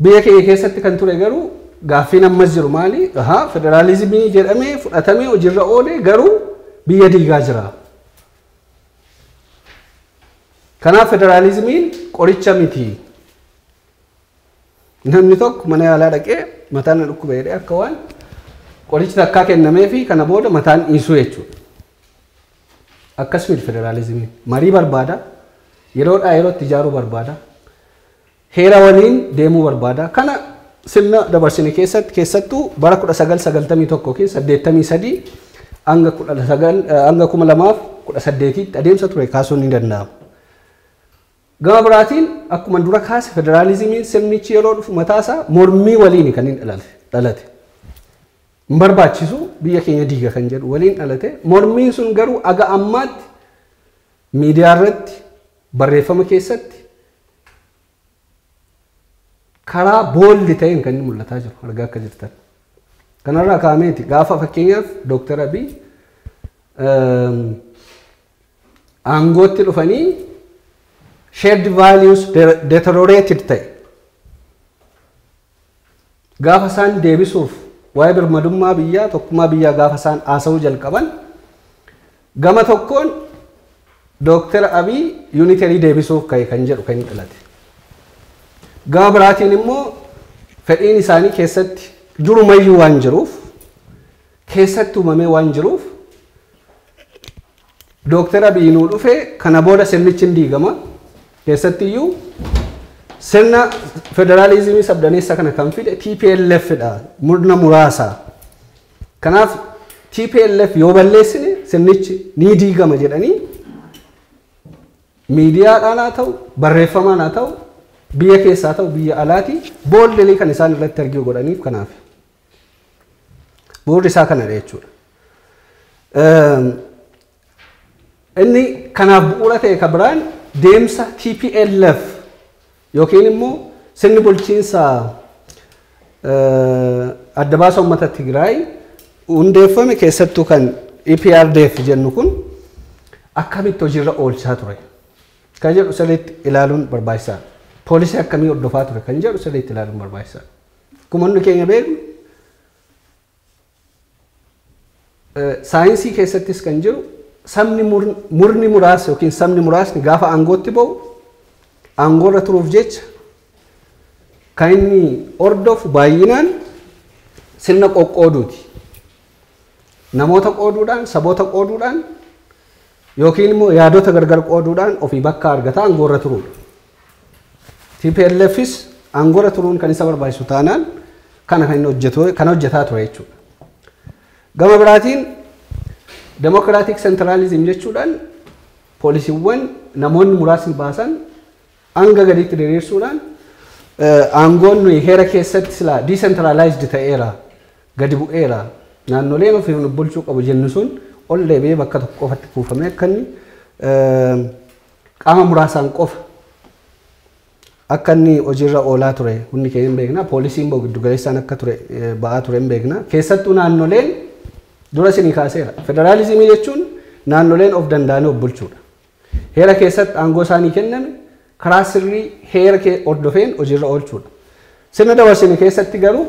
Biyya keenya keessatti kan ture garuu gaaffiin ammas jiru maali? Ahaa federaalizimii jedhamee fudhatamee hojiirra oole garuu biyya diigaa jira. Kanaaf federaalizimiin qoricha miti. Namni tokko mana yaalaa dhaqee mataan na dhukkuba jedhee akka waan qorichi takkaa kennamee fi kana booda mataan dhiisuu jechuudha. Akkas miti federaalizimiin. Marii barbaada. Yeroodhaa yerootti ijaaruu barbaada. Heera waliin deemuu barbaada. Kana sirna dabarsine keessatti keessattuu bara 1991 ykn 83 hanga 19 hanga 2018tti adeemsa ture kaasuun ni danda'ama. Gama biraatiin akkuma dura kaase federaalizimiin sirnichi yeroo dhufu mataasaa mormii waliin kan inni dhalate. dhalate. Hin barbaachisu biyya keenya diiga kan jedhu waliin dhalate. Mormiin sun garuu aga ammaatti Miidiyaa irratti, barreeffama keessatti karaa booldi ta'een kan inni mul'ataa jiru argaa akka jirtan. Kanarraa kaameeti gaafa fakkeenyaaf Dooktar Abiy aangootti dhufanii shared values deteriorated ta'e. Gaafa isaan deebisuuf waa'ee birmadummaa biyyaa, tokkummaa biyyaa gaafa isaan haasa'uu jalqaban gama tokkoon Dooktar Abiy yuuniterii deebisuuf ka'e kan jedhu kan inni dhalate. Gama biraatiin immoo fedhiin isaanii keessatti durumayyuu waan jiruuf keessatti uumamee waan jiruuf Dooktar Abiy nuu dhufe kana booda sirnichi hin diigama. Keessattiyyuu sirna federaalizimii sabdaneessa kana kan fide TPLF dha. Murna muraasa. Kanaaf TPLF yoo balleessine sirnichi ni diigama jedhanii miidiyaadhaan haa ta'u barreeffamaan haa ta'u biyya keessaa ta'u biyya alaatii bool'inii kan isaan irratti arginu godhaniif kanaaf. Bu'urri isaa kanadha jechuudha. Inni kanaaf bu'uura ta'e kan biraan deemsa TPLF yookiin immoo sirni bulchiinsa adda baasa uummata Tigraay hundeeffame keessattuu kan EPRDF jennu kun akkamitti hojiirra oolchaa ture kan jedhu sirriitti ilaaluun barbaachisaadha. Poolisii akkamii hordofaa ture kan jedhu sirriitti ilaaluun barbaachisaadha. Akkuma hundi keenya beeknu saayinsii keessattis kan jiru sabni murni muraasa yookiin sabni muraasni gaafa aangootti ba'u aangoorra turuuf jecha kan inni hordofu baay'inaan sirna qoqqooduuti. Namoota qooduudhaan, saboota qooduudhaan yookiin immoo yaadota gargar qooduudhaan ofii bakka argata aangoorra turuudha. TPLFis aangorra turuun kan isa barbaachisu taanaan kana kan hojjetu kan hojjetaa ture jechuudha. Gama biraatiin demokiraatik sentiraalizim jechuudhaan poolisiiwwan namoonni muraasni baasan hanga gadiitti diriirsuudhaan aangoon nuyi heera keessatti silaa diisentiraalaayizdii ta'eera gadi bu'eera naannoleen ofii bulchuu qabu jennu sun ol deebi'ee bakka tokko qofatti kuufamee akka inni Qaama muraasaan qofa akka inni hojiirra oolaa ture hundi keenya hin beekna. Poolisii immoo giddu galeessaan akka ture ba'aa ture hin beekna. Keessattuu naannoleen dura isinii kaaseera. Federaalizimii jechuun naannoleen of danda'anii of bulchuudha. Heera keessatti aangoo isaanii kenname karaa sirrii heera hordofeen hojiirra oolchuudha. Sirna dabarsine keessatti garuu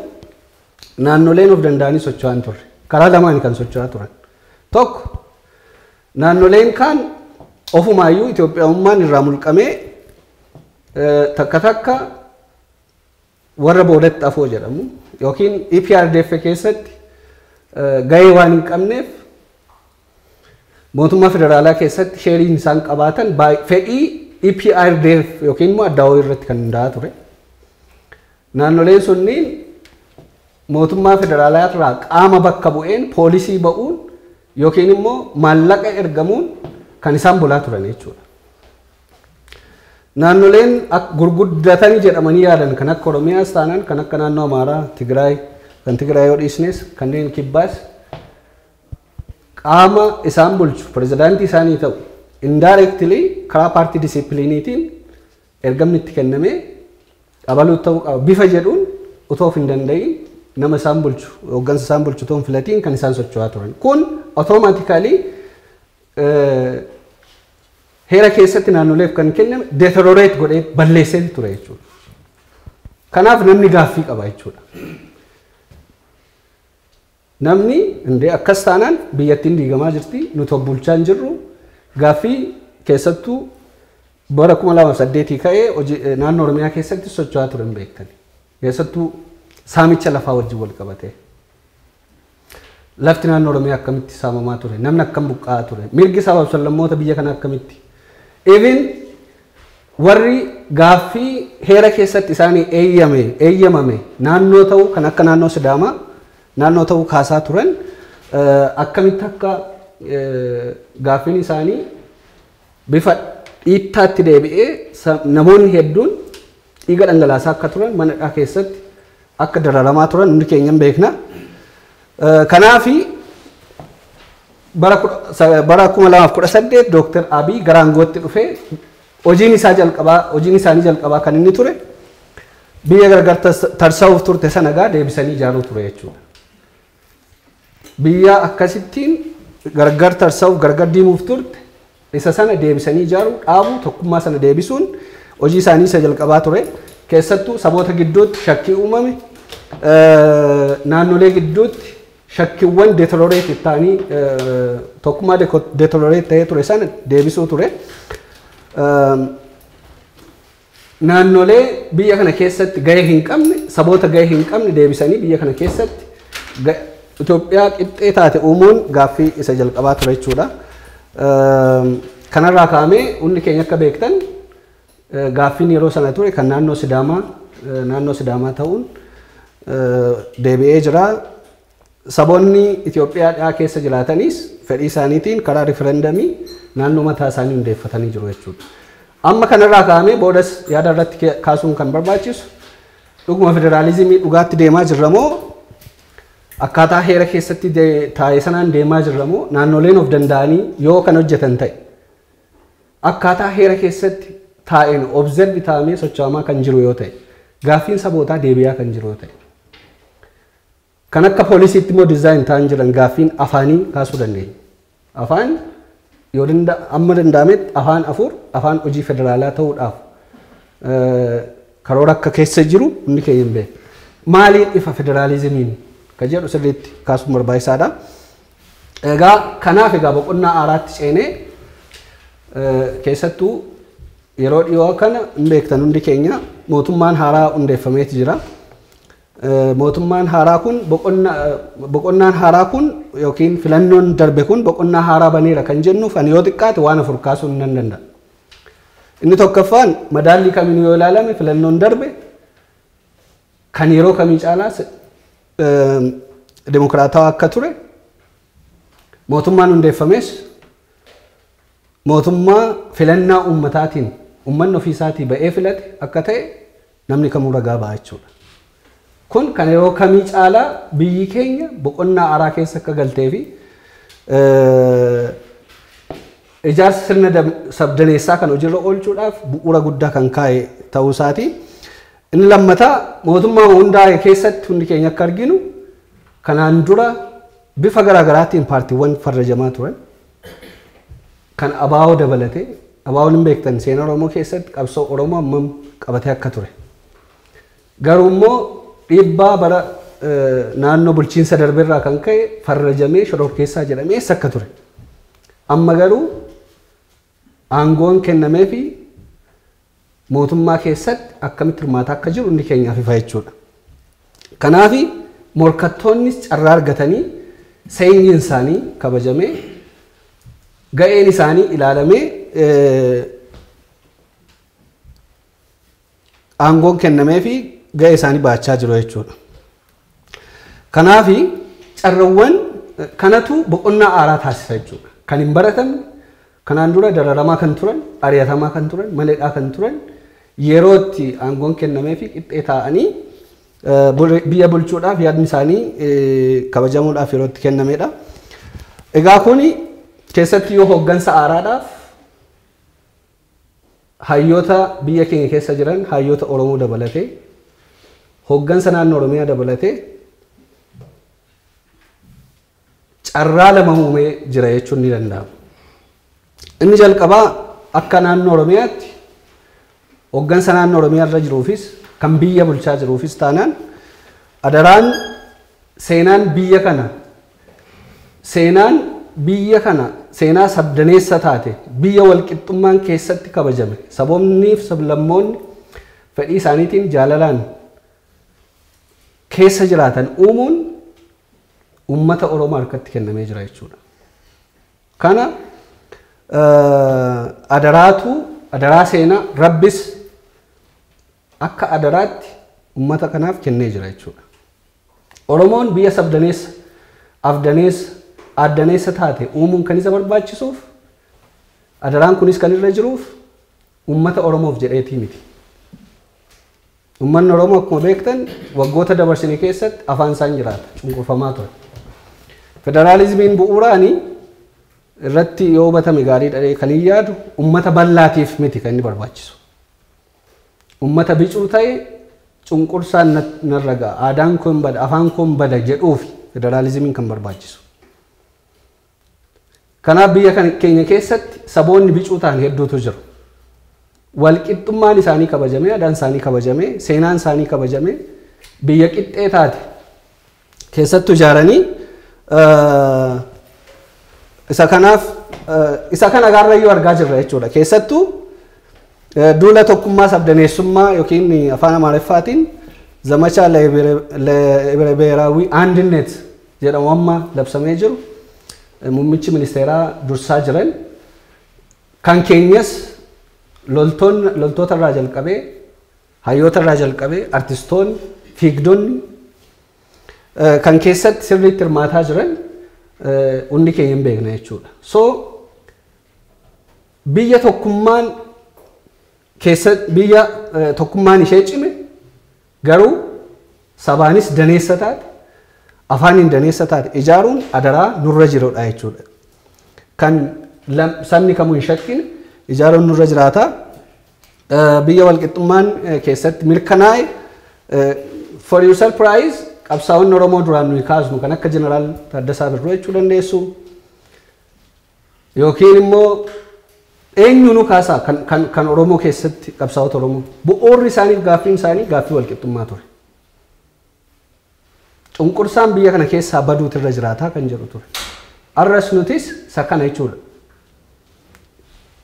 naannoleen of danda'anii socho'aa hin turre. Karaa lamaani kan socho'aa turan. Tokko Naannoleen kaan ofumaayyuu Itoophiyawummaan irraa mulqamee takka takka warra boodatti afoo jedhamu yookiin EPRDF keessatti gahee waan hin qabneef mootummaa federaalaa keessatti sheeriin isaan qabaatan fedhii EPRDF yookiin immoo addaawoo irratti kan hundaa'aa ture. Naannoleen sunniin mootummaa federaalaa irraa qaama bakka bu'een poolisii ba'uun Yookiin immoo maallaqa ergamuun kan isaan bulaa turanii jechuudha. Naannoleen gurguddatani jedhamanii yaadan kan akka Oromiyaas taanaan kan akka naannoo Amaaraa, Tigraay, kan Tigraay yoo dhiisnes kanneen kibbaas qaama isaan bulchu pirezidaantii isaanii ta'u indirectly karaa paartii disipiliiniitiin Ergamni itti kenname abaluut ta'uu qaba bifa jedhuun otoo of hin danda'iin nama isaan bulchu, hooggansa isaan bulchu otoo hin filatiin kan isaan socho'aa turan. Kun automatically heera keessatti naannoleef kan kenname deteriorate godhee balleessee ture jechuudha. Kanaaf namni gaaffii qaba jechuudha. Namni indee akkas taanaan biyyattiin diigamaa jirti, nuti of bulchaa hin jirru, gaaffii keessattuu bara 2008 ka'ee hojii naannoo Oromiyaa keessatti socho'aa ture hin beektani. Keessattuu saamicha lafaa wajjin wal qabatee. Lafti naannoo Oromiyaa akkamitti saamamaa ture, namni akkam buqqa'aa ture, mirgi sabaaf sablammoota biyya kanaa akkamitti even Warri gaaffii heera keessatti isaanii eeyyame, eeyyamame naannoo ta'uu kan akka naannoo Sidaamaa naannoo ta'uu kaasaa turan akkamitti akka gaaffiin isaanii bifa dhiittaatti deebi'ee namoonni hedduun Dhiiga dhangalaasaa akka turan mana hidhaa keessatti akka dararamaa turan hundi keenya hin beekna. Kanaaf bara 2018 Dooktar Abiy gara aangootti dhufee hojiin isaa jalqabaa hojiin isaanii jalqabaa kan inni ture biyya gargar tarsa'uuf turte sana egaa deebisanii ijaaruu ture jechuudha. Biyya akkasittiin gargar tarsa'uuf, gargar diimuuf turte, isa sana deebisanii ijaaruu, dhaabuu, tokkummaa sana deebisuun hojii isaanii isa jalqabaa ture. Keessattuu saboota gidduutti shakkii uumame, naannolee gidduutti shakkiiwwan deteriorated ta'anii tokkummaa deteriorated ta'ee ture sana deebisuu ture. Naannolee biyya kana keessatti gahee hin qabne, saboota gahee hin qabne deebisanii biyya kana keessatti Itoophiyaa qixxee taate uumuun gaaffii isa jalqabaa ture jechuudha. Kanarraa ka'amee hundi keenya akka beektan gaaffiin yeroo sana ture kan naannoo Sidaamaa naannoo Sidaamaa ta'uun deebi'ee jira. Saboonni Itoophiyaa dhiyaa keessa jiraatanis fedhii isaaniitiin karaa riferendamii naannoo mataa isaanii hundeeffatanii jiru jechuudha. Amma kanarraa ka'amee boodas yaada irratti kaasuun kan barbaachisu dhuguma federaalizimii dhugaatti deemaa jirra moo akkaataa heera keessatti taa'e sanaan deemaa jirra moo naannoleen of danda'anii yoo kan hojjetan ta'e akkaataa heera keessatti taa'een observi taa'amee socho'amaa kan jiru yoo ta'e gaaffiin sabootaa deebi'aa kan jiru yoo ta'e Kan akka polisiitti immoo design ta'an jiran gaaffiin afaanii kaasuu dandeenya. Afaan yoo danda amma danda'ametti afaan afur afaan hojii federaalaa ta'uudhaaf eh, karoora akka keessa jiru hundi keenya hin beekna. Maaliin ifa federaalizimiin ka jedhu sirriitti kaasuun barbaachisaadha. Egaa kanaaf egaa boqonnaa haaraatti ceenee eh, keessattuu yeroo dhiyoo kana hin beektan hundi keenya mootummaan haaraa hundeeffameeti jira. Mootummaan haaraa kun boqonnaan haaraa kun yookiin filannoon darbe kun boqonnaa haaraa baneera kan jennuuf ani yoo xiqqaate waan afur kaasuun nan danda'a. Inni tokkoffaan madaallii kamiin yoo ilaalame filannoon darbe kan yeroo kamii caalaa dimokiraatawaa akka ture mootummaan hundeeffames mootummaa filannaa uummataatiin uummanni ofiisaatii ba'ee filate akka ta'e Namni kamuu ragaa ba'a jechuudha. Kun kan yeroo kamii caalaa biyyi keenya boqonnaa haaraa keessa akka galtee fi ijaarsa sirna sabdaneessaa kan hojiirra oolchuudhaaf bu'uura guddaa kan kaa'e ta'uu isaati. Inni lammataa mootummaa hundaa'e keessatti hundi keenya akka arginu kanaan dura bifa garaagaraatiin paartiiwwan farrajamaa turan. Kan abo dabalatee, ABOn hin beektan seena Oromoo keessatti qabsoo Oromoo hammam qabatee akka ture. Garuu immoo dhiibbaa bara naannoo bulchiinsa darbe irraa kan ka'e farrajamee shororkeessaa jedhamee eessa akka ture. Amma garuu aangoon kennameefii mootummaa keessatti akkamitti hirmaataa akka jiru inni keenyaaf ifa jechuudha. Kanaaf morkattoonnis carraa argatanii seenyiin isaanii kabajamee ga'een isaanii ilaalamee aangoon kennamee fi ga'ee isaanii baachaa jiru jechuudha. Kanaaf carrawwan kanatu boqonnaa aaraa taasisa jechuudha. Kan hin baratamne, kanaan dura dararamaa kan turan, ari'atamaa kan turan, mana hidhaa kan turan yeroo itti aangoon kennameefi qixxee taa'anii biyya bulchuudhaaf yaadni isaanii kabajamuudhaaf yeroo itti kennamedha. Egaa kun keessatti yoo hooggansa aaraadhaaf Hayyoota biyya keenya keessa jiran hayyoota Oromoo dabalatee, hoggansa naannoo Oromiyaa dabalatee carraa lama uumee jira jechuun ni danda'ama. Inni jalqabaa akka naannoo Oromiyaatti hoggansa naannoo Oromiyaa irra jiruufis kan biyya bulchaa jiruufis taanaan adaraan seenaan biyya kana Seenaan biyya kana seenaa sabdaneessa taate, biyya walqixxummaan keessatti kabajame, saboonniif sablammoonni fedhii isaaniitiin jaalalaan keessa jiraatan uumuun uummata Oromoo harkatti kennamee jira jechuudha. Kana adaraatu adaraa seenaa rabbis akka adaraatti ummata kanaaf kennee jira jechuudha. Oromoon biyya sabdaneessa, afdaneessa, aaddaneessa taate uumuun kan isa barbaachisuuf, adaraan kunis kan irra jiruuf ummata Oromoof jedheetii miti. Ummanni Oromoo akkuma beektan waggoota dabarsine keessatti afaan isaan jiraata, cunqurfamaa ture. Federaalizimiin bu'uuraani irratti yoo hubatame gaariidha jedhee kan hin yaadu ummata bal'aatiif miti kan inni barbaachisu. Ummata bicuu ta'e cunqursaan narra ga'a, aadaan koo hin bada, afaan koo hin bada jedhuufi federaalizimiin kan barbaachisu. Kanaaf biyya keenya keessatti saboonni bicuu ta'an hedduutu jiru. Walqixxummaan isaanii kabajamee, aadaan isaanii kabajamee, seenaan isaanii kabajamee biyya qixxee taate keessattu ijaaranii isa kanaaf isa kana gaarrayyuu argaa jirra jechuudha. Keessattu duula tokkummaa sabdaneessummaa yookiin afaan amaariffaatiin zamachaa lebere beeraawwii andinet jedhamu amma labsamee jiru muummichi ministeeraa dursaa jiran kan keenyas loltoota irraa jalqabee Hayyoota irraa jalqabee artistoonni, fiigdonni eh, kan keessatti sirriitti hirmaataa jiran eh, hundi keenya hin beekna jechuudha. So biyya tokkummaan keessa biyya eh, tokkummaan ishee cime garuu sabaanis daneessa taate afaaniin daneessa taate ijaaruun adaraa nurra jirudha jechuudha. Kan lam- sabni kamuu hin shakkine ijaaruun nurra jiraata. Biyya walqixxummaan keessatti mirkanaa'e for your surprise qabsaa'onni Oromoo duraan nuyi kaasnu kan akka Jeneraal Taaddasaa Birruu jechuu dandeessu yookiin immoo eenyuunuu kaasaa kan, kan, kan Oromoo keessatti qabsaa'ota Oromoo bu'uurri isaaniif gaaffiin isaanii gaaffii walqixxummaa ture. Cunqursaan biyya kana keessaa baduutu irra jiraataa kan jedhu ture. Arras nutis isa kana jechuudha.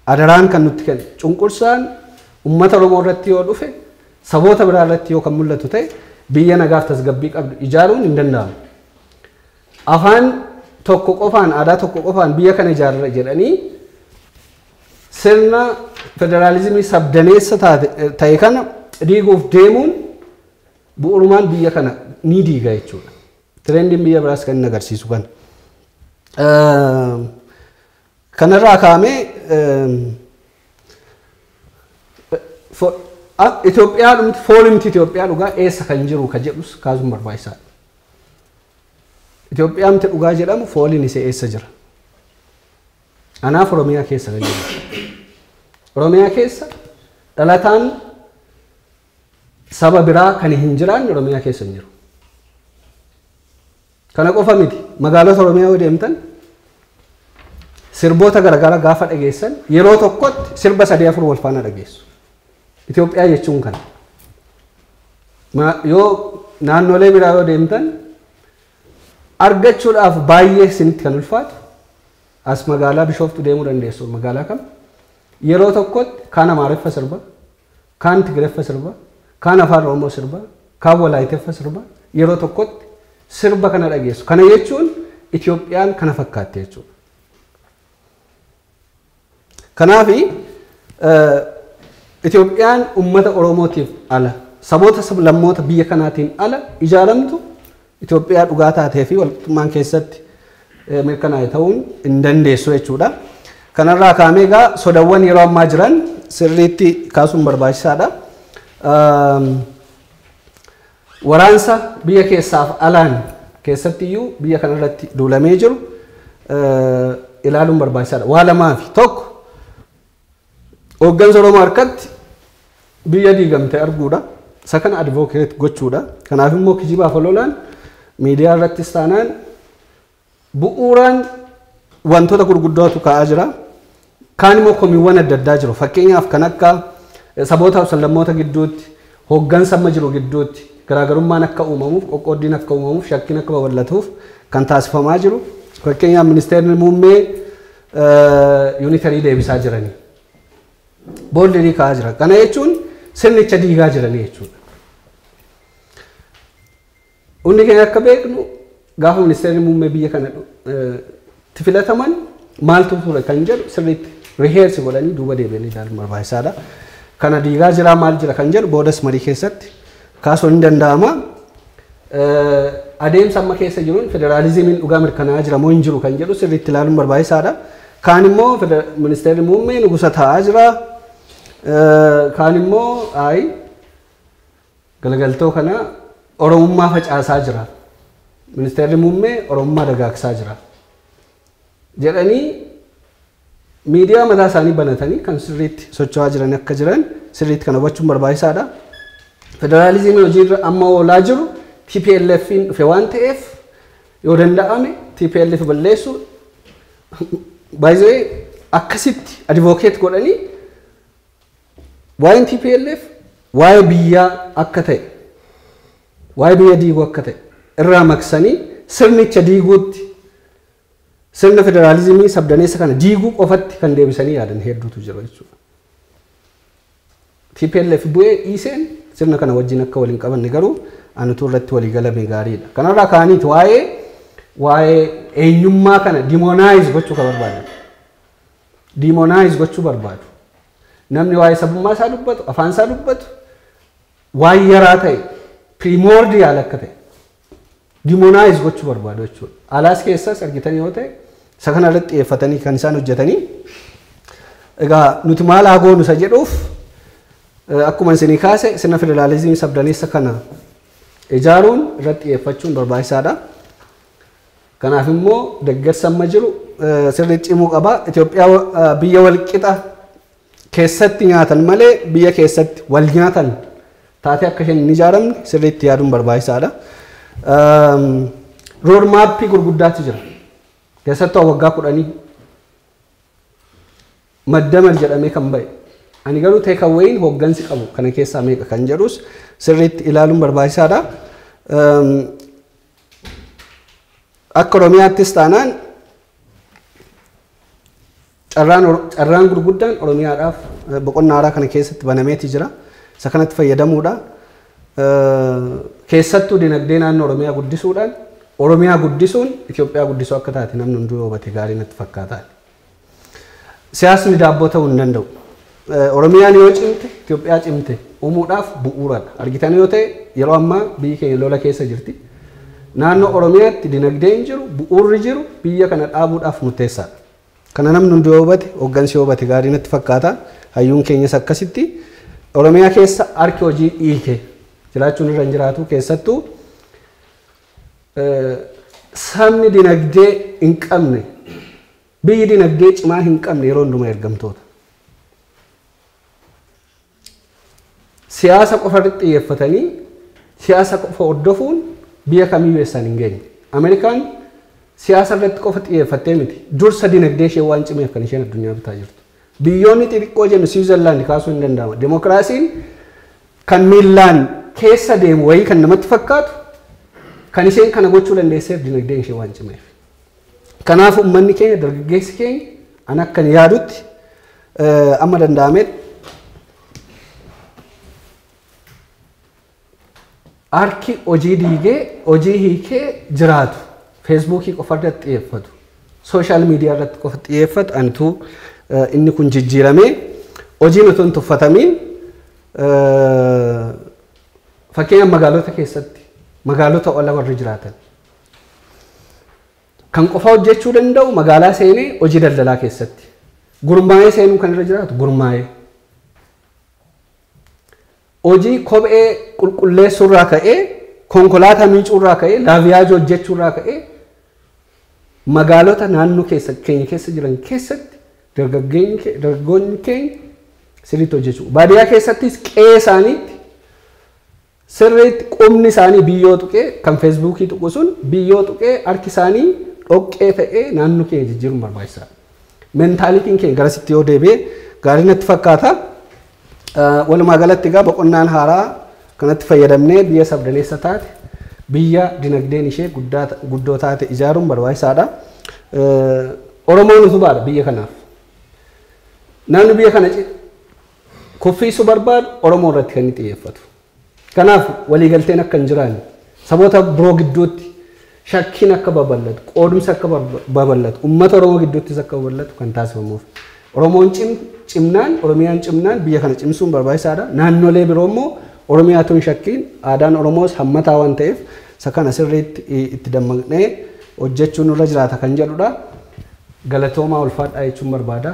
Adaraan kan nutti kennu. Cunqursaan uummata Oromoo irratti yoo dhufe saboota biraa irratti yoo kan mul'atu ta'e biyya nagaaf tasgabbii qabdu ijaaruun hin danda'amu. Afaan tokko qofaan aadaa tokko qofaan biyya kana ijaarra jedhanii sirna federaalizimii sabdaneessa ta'e kana diiguuf deemuun Bu'urumaan biyya kana ni diiga jechuudha. Tirendiin biyya biraas kan inni agarsiisu kana. Kanarraa kaa'amee Itoophiyaa dhumti foolimti Itoophiyaa dhugaa eessa kan jiru ka jedhus kaasuun barbaachisaadha. Itoophiyaa miti dhugaa jedhamu fooliin isee eessa jira? Anaaf Oromiyaa keessa kan jiru. Oromiyaa keessa dhalataan Saba biraa kan hin jiraanne Oromiyaa keessa hin jiru. Kana qofa miti. Magaalota Oromiyaa yoo deemtan sirboota garaagaraa gaafa dhageessan yeroo tokkotti sirba sadii afur wal faana dhageessu. Itoophiyaa jechuun kana. Yoo naannolee biraa yoo deemtan argachuudhaaf baay'ee isinitti kan ulfaatu as magaalaa Bishooftu deemuu dandeessu magaalaa kam yeroo tokkotti kaan Amaariffa sirba kaan Tigreffa sirba, kaan Afaan Oromoo sirba, kaan Walaayiteffa sirba, yeroo tokkotti sirba kana dhageessu. Kana jechuun Itoophiyaan kana fakkaatti jechuudha. Kanaaf Itoophiyaan uummata Oromootiif ala, saboota sablammoota biyya kanaatiin ala ijaaramtu Itoophiyaa dhugaa taatee fi walqixxummaan keessatti mirkanaa'e ta'uun hin dandeessu jechuudha. Kanarraa kaamee egaa sodawwan yeroo ammaa jiran sirriitti kaasuun barbaachisaadha. Waraansa biyya keessaaf alaan keessatti iyyuu biyya kanarratti duulamee jiru ilaaluun barbaachisaadha. Waa lamaafi tokko Hooggansa Oromoo harkatti biyya diigamte arguudha. Isa kana advocate gochuudha. Kanaaf immoo kijibaaf ololaan miidiyaa irrattis taanaan bu'uuraan wantoota gurguddootu ka'aa jira. Kaan immoo komiiwwan adda addaa jiru. Fakkeenyaaf kan akka sabootaaf sallammoota gidduutti hooggansa amma jiru gidduutti garaagarummaan akka uumamuuf qoqqooddiin akka uumamuuf shakkiin akka babal'atuuf kan taasifamaa jiru. Fakkeenyaaf ministeerri muummee yuunitarii deebisaa jiranii booldirii ka'aa jiran. Kana jechuun sirnicha diigaa jiranii jechuudha. Hundi keenya akka beeknu gaafa ministeerri muummee biyya kana itti filataman maaltu ture kan jedhu sirriitti riheersi godhanii duuba deebi'anii ilaaluun barbaachisaadha. Kana diigaa jiraa maal jira kan jedhu boodas marii keessatti kaasuun ni danda'ama. Adeemsa amma keessa jiruun federaalizimiin dhugaa mirkanaa'aa jira moo hin jiru kan jedhu sirriitti ilaaluun barbaachisaadha. Kaan immoo ministeerri muummee nugusa taa'aa jira. Kaan immoo ayi galagaltoo kana oromummaa facaasaa jira. Ministeerri muummee oromummaa dagaagsaa jira. Jedhanii Miidiyaa mataa isaanii banatanii kan sirriitti socho'aa jiran akka jiran sirriitti kana hubachuun barbaachisaadha. Federaalizimii hojiirra amma oolaa jiru TPLFiin dhufe waan ta'eef yoo danda'ame TPLF balleessuu by the way akkasitti advocate godhanii waa'een TPLF waa'ee biyyaa akka ta'e waa'ee biyya diiguu akka ta'e irraa maqsanii sirnicha diiguutti Sirna federaalizimii sabdaneessa kana diiguu qofatti kan deebisanii yaadan hedduutu jira jechuudha. TPLF bu'ee dhiiseen sirna kana wajjin akka wal hin qabanne garuu an utuu irratti walii galame gaariidha. Kanarraa ka'aniiti waa'ee waa'ee eenyummaa kana demonise gochuu kan barbaadan. Demonise gochuu barbaadu. Namni waa'ee sabummaa isaa dubbatu, afaan isaa dubbatu waan yaraa ta'e primordial akka ta'e Demonize gochuu barbaadu jechuudha. Alaas keessas argitan yoo ta'e isa kana irratti xiyyeeffatanii kan isaan hojjetanii egaa nuti maal haa goonu isa jedhuuf eh, akkuma isinii kaase sirna federaalizimii sabdaneessa kana ijaaruun irratti xiyyeeffachuun barbaachisaadha. Kanaaf immoo deeggarsa amma jiru eh, sirriitti cimuu qaba. Itoophiyaa eh, biyya walqixa keessatti nyaatan malee biyya keessatti wal nyaatan taatee akka isheen hin ijaaramne sirriitti yaaduun barbaachisaadha. Rood maappii gurguddaatu jira. Keessattuu waggaa kudhanii maddamar jedhamee kan ba'e. Ani garuu teekaweeyiin hooggansi qabu kana keessaa meeqa kan jedhus sirriitti ilaaluun barbaachisaadha. Akka Oromiyaattis taanaan Carraan carraan gurguddaan Oromiyaadhaaf boqonnaa haaraa kana keessatti banameeti jira. Isa kanatti fayyadamuudhaan keessattuu dinagdee naannoo Oromiyaa guddisuudhaan Oromiyaa guddisuun Itoophiyaa guddisuu akka taate namni hunduu hubate gaarii natti fakkaata. Siyaasni daabboo ta'uu hin danda'u. Oromiyaan yoo cimte Itoophiyaa cimte uumuudhaaf bu'uuradha. Argitan yoo ta'e yeroo ammaa biyyi keenya lola keessa jirti. Naannoo Oromiyaatti dinagdeen jiru bu'uurri jiru biyya kana dhaabuudhaaf murteessaadha. Kana namni hundi yoo hubate, hoggansi yoo hubate gaarii natti fakkaata. Hayyuun keenyas akkasitti. Oromiyaa keessa harki hojii dhiite jiraachuun irra hin jiraatu. Keessattuu sabni dinagdee hin qabne, biyyi dinagdee cimaa hin qabne yeroo hundumaa ergamtoota. Siyaasa qofa irratti xiyyeeffatanii siyaasa qofa hordofuun biyya kamiyyuu eessaan hin geenye. Ameerikaan siyaasa irratti qofa xiyyeeffattee miti. Dursa dinagdee ishee waan cimeef kan isheen addunyaa bitaa jirtu. Biyyoonni xixiqqoo jennu Siwiizerlaand kaasuu hin danda'ama. Demokiraasiin kan miillaan keessa deemu wayii kan namatti fakkaatu kan isheen kana gochuu dandeesseef dinagdeen ishee waan cimeef. Kanaaf ummanni keenya dargaggeessi keenya an akkan yaadutti amma danda'ametti harki hojii diigee hojii hiikee jiraatu feesbuukii qofa irratti xiyyeeffatu sooshaal miidiyaa irratti qofa xiyyeeffatu anitu inni kun jijjiiramee hojiin otoo hin tuffatamiin fakkeenyaaf magaalota keessatti magaalota ala warri jiraatan Kan qofaa hojjechuu danda'u magaalaa seenee hojii daldalaa keessatti. Gurmaa'ee seenuu kan irra jiraatu gurmaa'ee. Hojii kophee qulqulleessuu irraa ka'ee konkolaataa miicuu irraa ka'ee laaviyaajii hojjechuu irraa ka'ee magaalota naannoo keessa keenya keessa jiran keessatti dargaggeenyi kee- dargaggoonni keenya sirriitti hojjechuu. Baadiyyaa keessattis qe'ee isaaniitti Sirriitti qubni isaanii biyyoo tuqee, kan feesbuukii tuqu sun biyyoo tuqee harki isaanii dhoqqee ta'ee naannoo keenya jijjiiruun barbaachisaadha. Mentaalitiin keenya garasitti yoo deebi'e gaarii natti fakkaata. Walumaa galatti egaa boqonnaan haaraa kanatti fayyadamnee biyya sabdaneessa taate biyya dinagdeen ishee guddoo taate ijaaruun barbaachisaadha. Oromoon utubaadha biyya kanaaf. Namni biyya kana kuffiisuu barbaadu Oromoo irratti kan inni xiyyeeffatu. Kanaaf waliigalteen akka hin jiraanne, saboota biroo gidduutti shakkiin akka babal'atu, qoodumsi akka babal'atu, uummata Oromoo gidduuttis akka babal'atu kan taasifamuuf. Oromoon cimnaan, Oromiyaan cimnaan biyya kana cimsuun barbaachisaadha. Naannolee biroo immoo Oromiyaa tun shakkiin aadaan Oromoos hammataa waan ta'eef isa kana sirriitti itti dammaqnee hojjechuun irra jiraata kan jedhudha. Galatoomaa ulfaadhaa jechuun barbaada.